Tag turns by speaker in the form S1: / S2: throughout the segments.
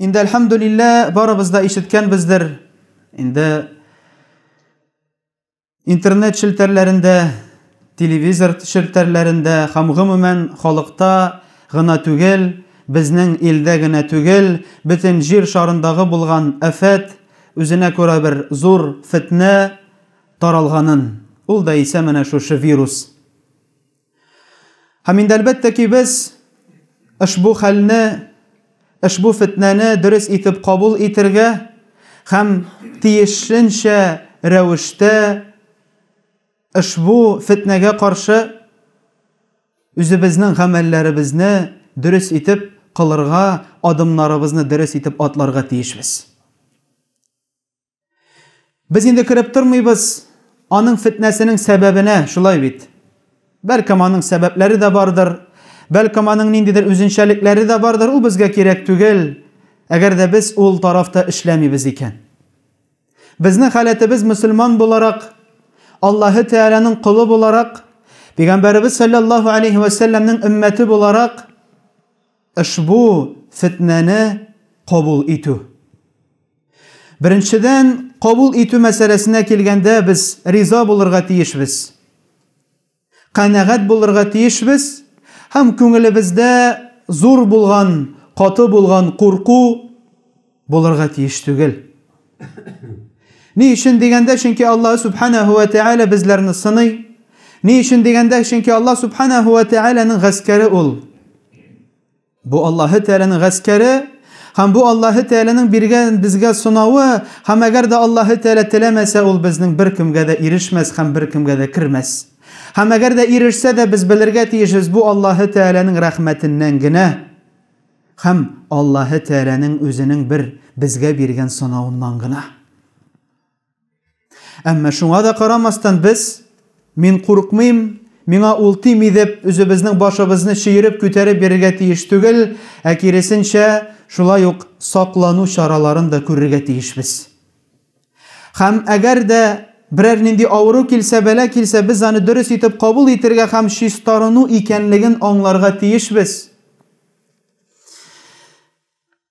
S1: Инде әлхәмдүлиллә барыбыз да ишеткәнбездер. Инде интернет челтәрләрендә, телевизор челтәрләрендә һәм гомумән халыкта гына түгел, безнең илдә генә түгел, бөтен җир шарындагы булган афәт, Үзенә күрә бер зур фетнә таралганын, ул да исә менә шушы вирус. Һәм инде әлбәттә ки без ошбу хәлне, ошбу фетнәне дөрес итеп кабул итергә һәм тиешенчә рәвештә Ошбу фетнәгә каршы үзебезнең гамәлләребезне дөрес итеп кылырга, адымнарыбызны дөрес итеп атларга тиешбез. Без инде кереп тормыйбыз аның фетнәсенең сәбәбенә, шулай бит? Бәлкем аның сәбәпләре дә бардыр, бәлкем аның ниндидер үзенчәлекләре дә бардыр, ул безгә кирәк түгел, әгәр дә без ул тарафта эшләмибез икән. Безнең халәтебез мөселман буларак, Аллаһы Тәгаләнең колы буларак, Пәйгамбәребез саллаллаһу алейһи ва сәлләмнең өммәте буларак ошбу фетнәне кабул итү. Беренчедән, кабул итү мәсьәләсенә килгәндә, без риза булырга тиешбез. Канәгать булырга тиешбез һәм күңелебездә зур булган, каты булган курку булырга тиеш түгел. Ни өчен дигәндә, чөнки Аллаһ Субханаһу ва Тәгалә безләрне сыный. Ни өчен дигәндә, чөнки Аллаһ Субханаһу ва Тәгаләнең гаскәре ул. Бу Аллаһы Тәгаләнең гаскәре һәм бу Аллаһы Тәгаләнең биргән безгә сынавы, һәм әгәр дә Аллаһы Тәгалә теләмәсә, ул безнең беркемгә дә ирешмәс һәм беркемгә дә кермәс. Һәм әгәр дә ирешсә дә, без белергә тиешбез, бу Аллаһы Тәгаләнең рәхмәтеннән генә һәм Аллаһы Тәгаләнең Үзенең бер безгә биргән сынавыннан гына. Әмма шуңа да карамастан без мин курыкмыйм, миңа ул тими дип үзебезнең башыбызны чөереп күтәреп бирергә тиеш түгел, ә киресенчә, шулай ук саклану чараларын да күрергә тиешбез. Хәм әгәр дә берәр нинди авыру килсә, бәла килсә, без аны дөрес итеп кабул итергә хәм чистарыну икәнлеген аңларга тиешбез.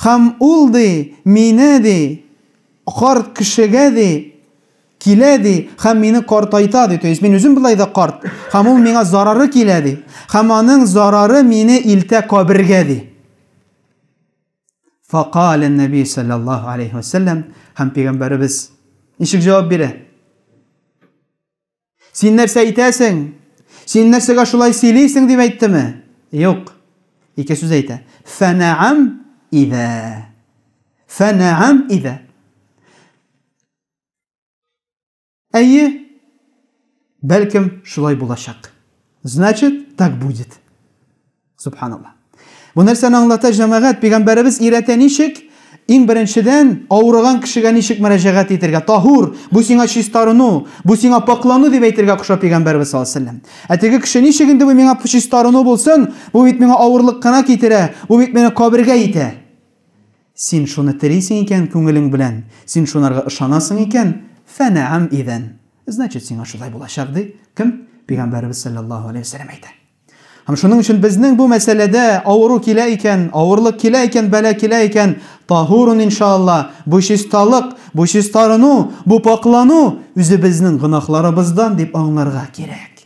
S1: Һәм ул, ди, мине, ди, карт кешегә, ди, килә, ди, һәм мине картайта, ди, то есть мин үзем болай да карт, һәм ул миңа зарары килә, ди, һәм аның зарары мине илтә кабергә, ди. Факале Нәби саллаллаху алейхи вассалам һәм пигамбәребез ничек җавап бирә? Син нәрсә әйтәсең? Син нәрсәгә шулай сөйлисең дип әйттеме? Юк. Ике сүз әйтә. Фәнәам идә. Фәнәам идә. Әйе, бәлкем шулай булачак. Значит, так будет. Субханалла. Бу нәрсәне аңлата җәмәгать, пигамбәребез өйрәтә ничек? Иң беренчедән, авырыган кешегә ничек мөрәҗәгать итергә? Таһур, бу сиңа чистарыну, бу сиңа пакълану дип әйтергә куша пигамбәребез саллаллаһу алейһи вәсәлләм. Ә теге кеше ничек инде бу миңа чистарыну булсын? Бу бит миңа авырлык кына китерә, бу бит мине кабергә итә. Син шуны телисең икән күңелең белән, син шунарга ышанасың икән, фәнәәм идән. Значит, сиңа шулай булачак, ди кем? Пигамбәребез саллаллаһу алейһи вәсәлләм әйтә. Һәм шуның өчен безнең бу мәсьәләдә авыру килә икән, авырлык килә икән, бәла килә икән, таһурун иншаалла, бу чисталык, бу чистарыну, бу пакълану үзебезнең гөнаһларыбыздан дип аңларга кирәк.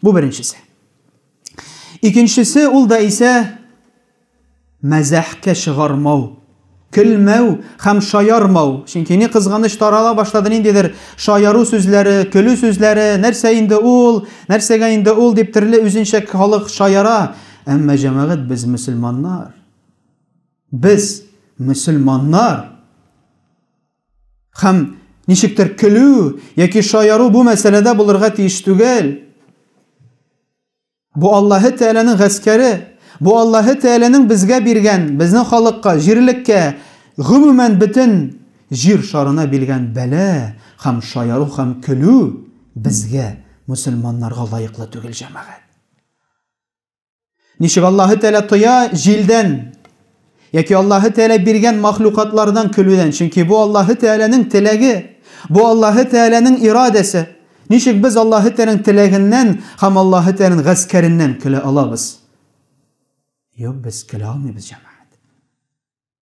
S1: Бу беренчесе. Икенчесе ул да исә мәзәхкә чыгармау, көлмәү һәм шаярмау. Чөнки ни кызганыч тарала башлады ниндидер шаяру сүзләре, көлү сүзләре, нәрсә инде ул, нәрсәгә инде ул дип төрле үзенчә халык шаяра. Әмма җәмәгать без мөселманнар. Без мөселманнар. Хәм, ничектер көлү яки шаяру бу мәсьәләдә булырга тиеш түгел. Бу Аллаһы Тәгаләнең гаскәре, бу Аллаһы Тәгаләнең безгә биргән, безнең халыкка, җирлеккә, гомумән бөтен җир шарына биргән бәла һәм шаяру һәм көлү безгә, мөселманнарга лаеклы түгел, җәмәгать. Ничек Аллаһы Тәгалә тоя җилдән яки Аллаһы Тәгалә биргән махлукатлардан көлүдән, чөнки бу Аллаһы Тәгаләнең теләге, бу Аллаһы Тәгаләнең ирадәсе. Ничек без Аллаһы Тәгаләнең теләгеннән һәм Аллаһы Тәгаләнең гаскәреннән көлә алабыз? Юк, без көлә алмыйбыз, җәмәгать.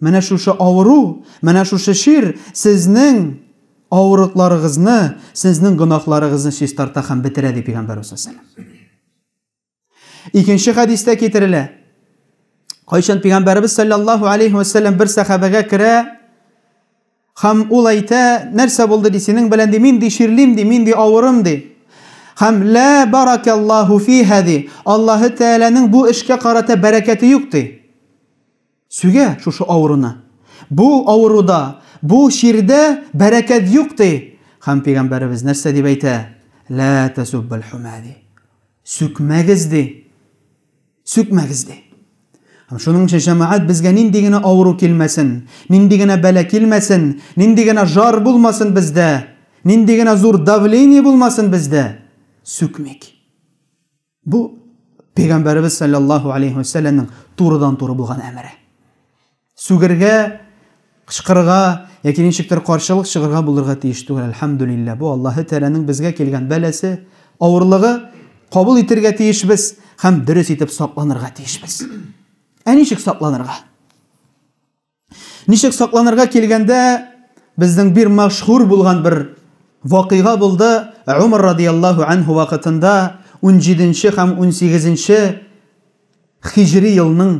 S1: Менә шушы авыру, менә шушы чир сезнең авырлыкларыгызны, сезнең гөнаһларыгызны чистарта һәм бетерә, ди пигамбәрбез саллаллаһу галәйһи ва сәлләм. Икенче хәдистә китерелә. Кайчан пигамбәрбез саллаллаһу галәйһи ва сәлләм бер сәхабәгә керә һәм ул әйтә, нәрсә булды ди, синең белән ди, мин ди чирлим ди, мин ди авырым ди. Һәм лә баракаллаһу фиһа ди. Аллаһы Тәгаләнең бу эшкә карата бәрәкәте юк ди. Сүгә шушы авыруны. Бу авыруда, бу чирдә бәрәкәт юк, ди. Һәм Пәйгамбәребез нәрсә дип әйтә? Лә тәсуббәл-һүмә, ди. Сүкмәгез, ди. Сүкмәгез, ди. Һәм шуның өчен, җәмәгать, безгә нинди генә авыру килмәсен, нинди генә бәла килмәсен, нинди генә жар булмасын бездә, нинди генә зур давление булмасын бездә, сүкмик. Бу пәйгамбәребез саллаллаһу алейхи ва сәлләмнең турыдан-туры булган әмере. Сүгергә, кычкырырга яки ничектер каршылык чыгарга булырга тиеш түгел, альхамдулиллаһ. Бу Аллаһы Тәгаләнең безгә килгән бәласе, авырлыгы, кабул итәргә тиешбез һәм дөрес итеп сакланырга тиешбез. Ә ничек сакланырга? Ничек сакланырга килгәндә, безнең бир мәшһүр булган бер вакыйга булды. Умар радияллаһу анһу вакытында 17-нче һәм 18-нче хиҗри елның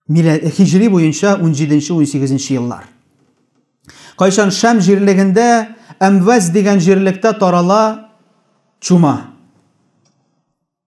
S1: хиҗри буенча 17-нче 18-нче еллар. Кайчан Шәм җирлегендә Әмвәз дигән җирлектә тарала чума.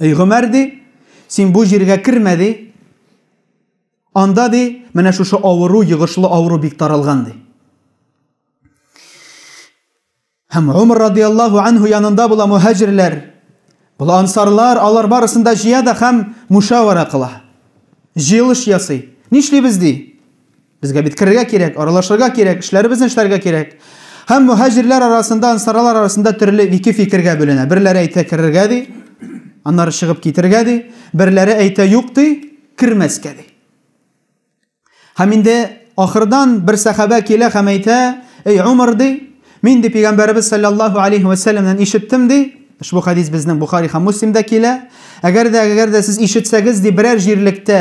S1: Эй Гомәр ди, син бу җиргә кермә ди. Анда ди, менә шушы авыру, йогышлы авыру бик таралган ди. Һәм Умар радияллаһу анһу янында була мухаҗирләр. Бул ансарлар, алар барысын да җыя да һәм мушавара кыла. Җыелыш ясый. Нишлибез ди? Безгә бит керергә кирәк, аралашырга кирәк, эшләребезне эшләргә кирәк. Һәм мухаҗирләр арасында, ансарлар арасында төрле ике фикергә бүленә. Берләре әйтә керергә ди, аннары чыгып китергә ди, берләре әйтә юк ди, кермәскә ди. Һәм инде ахырдан бер сәхабә килә һәм әйтә, "Эй Умар ди, мин ди пәйгамбәрбез саллаллаһу алейхи ва салламнан ишеттем ди, Ошбу хадис безнең Бухари һәм Муслимда килә. Әгәр дә әгәр дә сез ишетсәгез ди берәр җирлектә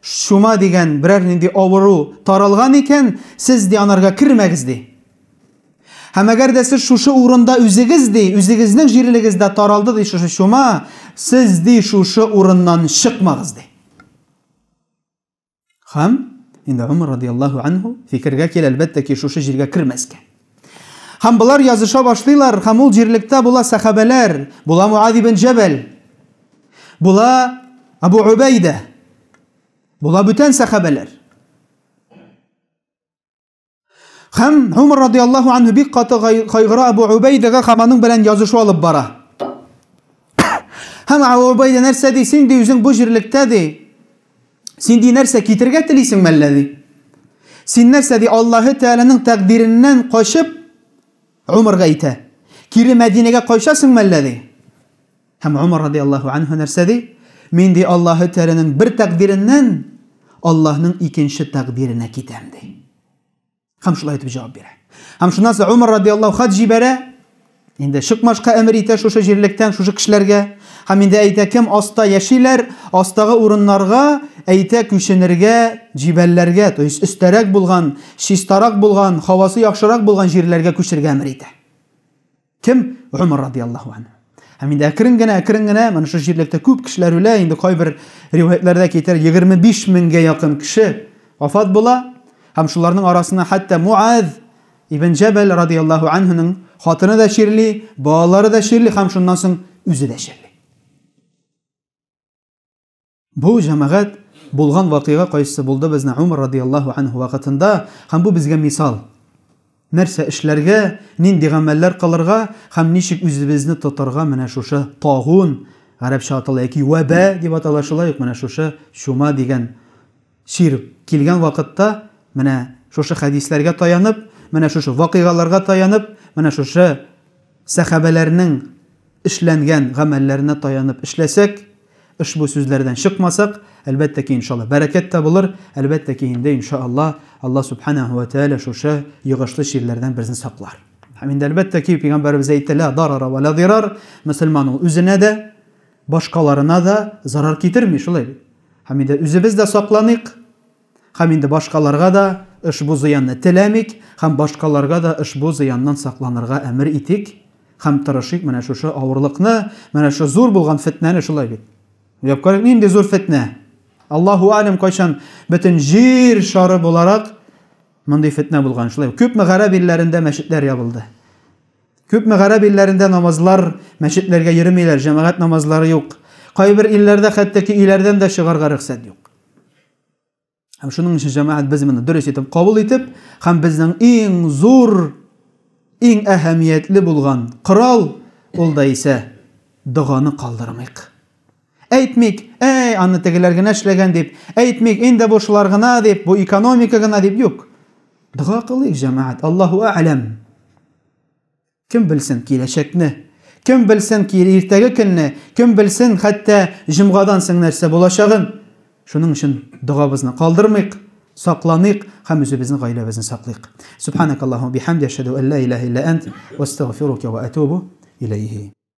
S1: Чума дигән берәр нинди авыру таралган икән, сез, ди, анарга кермәгез, ди. Һәм әгәр дә сез шушы урында үзегез, ди, үзегезнең җирлегездә таралды, ди, шушы чума, сез, ди, шушы урыннан чыкмагыз, ди. Һәм инде Омар радиаллаһу анһу фикергә килә, әлбәттә ки, шушы җиргә кермәскә. Һәм болар языша башлыйлар, һәм ул җирлектә була сәхабәләр, була Муаз ибн Җәбәл, була Абу Убәйдә, була бүтән сәхабәләр. Һәм Умар радиаллаху анһу бик каты кайгыра Абу Убәйдәгә һәм аның белән язышу алып бара. Һәм Абу Убәйдә нәрсә ди, син ди үзең бу җирлектә ди, Син ди нәрсә китергә телисең мәллә ди? Син нәрсә ди Аллаһы Тәгаләнең тәкъдиреннән качып Умарга әйтә. Кире Мәдинәгә кайшасың мәллә ди? Һәм Умар радиаллаһу анһу нәрсә ди? Мин ди Аллаһы Тәгаләнең бер тәкъдиреннән Аллаһның икенче тәкъдиренә китәм ди. Һәм шулай итеп җавап бирә. Һәм шуннан соң Умар радиаллаһу хат җибәрә. Инде чыкмашка әмер итә шушы җирлектән, шушы кешеләргә. Һәм инде әйтә, кем аста яшиләр, астагы урыннарга әйтә күченергә, җибәлләргә, то есть өстәрәк булган, чистарак булган, һавасы яхшырак булган җирләргә күчергә әмер итә. Кем? Умар радиаллаху ан. Һәм инде әкрен генә, әкрен генә, менә шул җирлектә күп кешеләр үлә, инде кайбер риваятьләрдә китер 25 меңгә якын кеше вафат була. Һәм шуларның арасына хәтта Муаз ибн Җәбәл радиаллаху анһуның хатыны да чирли, балалары да чирли һәм шуннан соң үзе дә чирли. Бу җәмәгать булган вакыйга кайсы булды безнең Умар радиаллаһу анһу вакытында, һәм бу безгә мисал. Нәрсә эшләргә, нинди гамәлләр кылырга һәм ничек үзебезне тотарга менә шушы тагун, гарәпчә атала яки вәбә дип атала, шулай ук менә шушы чума дигән Сирүк килгән вакытта, менә шушы хәдисләргә таянып, менә шушы вакыйгаларга таянып, менә шушы сәхабәләрнең эшләнгән гамәлләренә таянып эшләсәк, ошбу сүзләрдән чыкмасак, әлбәттә ки, иншалла, бәрәкәт тә булыр, әлбәттә ки, инде, иншалла, Алла Сүбхәнәһү вә Тәгалә шушы йогышлы чирләрдән безне саклар. Һәм инде, әлбәттә ки, Пәйгамбәребез әйтте, Лә дарара вә лә дирар, мөселман ул үзенә дә, Башкаларына да зарар китерми, шулай бит? Һәм инде үзебез дә сакланыйк, һәм инде башкаларга да ошбу зыянны теләмик, һәм башкаларга да ошбу зыяннан сакланырга әмер итик, һәм тырышыйк менә шушы авырлыкны, менә шушы зур булган фетнәне, шулай бит? Уйлап карыйк, нинди зур фетнә! Аллаһу Әәләм, кайчан бөтен Җир шары буларак мондый фетнә булган, шулай бит? Күпме гарәп илләрендә мәчетләр ябылды. Күпме гарәп илләрендә намазлар, мәчетләргә йөремиләр, җәмәгать намазлары юк. Кайбер илләрдә хәтта ки өйләрдән дә чыгарга рөхсәт юк. Һәм шуның өчен җәмәгать без моны дөрес итеп кабул итеп, һәм безнең иң зур, иң әһәмиятле булган корал, ул да исә доганы калдырмыйк. Әйтмик, әй, аны тегеләр генә эшләгән дип, әйтмик, инде бу шулар гына дип, бу экономика гына дип, юк. Дога кылыйк, җәмәгать, Аллаһу әгъләм. Кем белсен киләчәкне, кем белсен кире иртәге көнне, кем белсен хәтта җомгадан соң нәрсә булачагын. Шуның өчен догабызны калдырмыйк, сакланыйк һәм үзебезнең гаиләбезне саклыйк. Субханакаллаһу бихамди, ашһаду ан ла илаһа илля ант, ва астагфирука ва атубу иләйһи.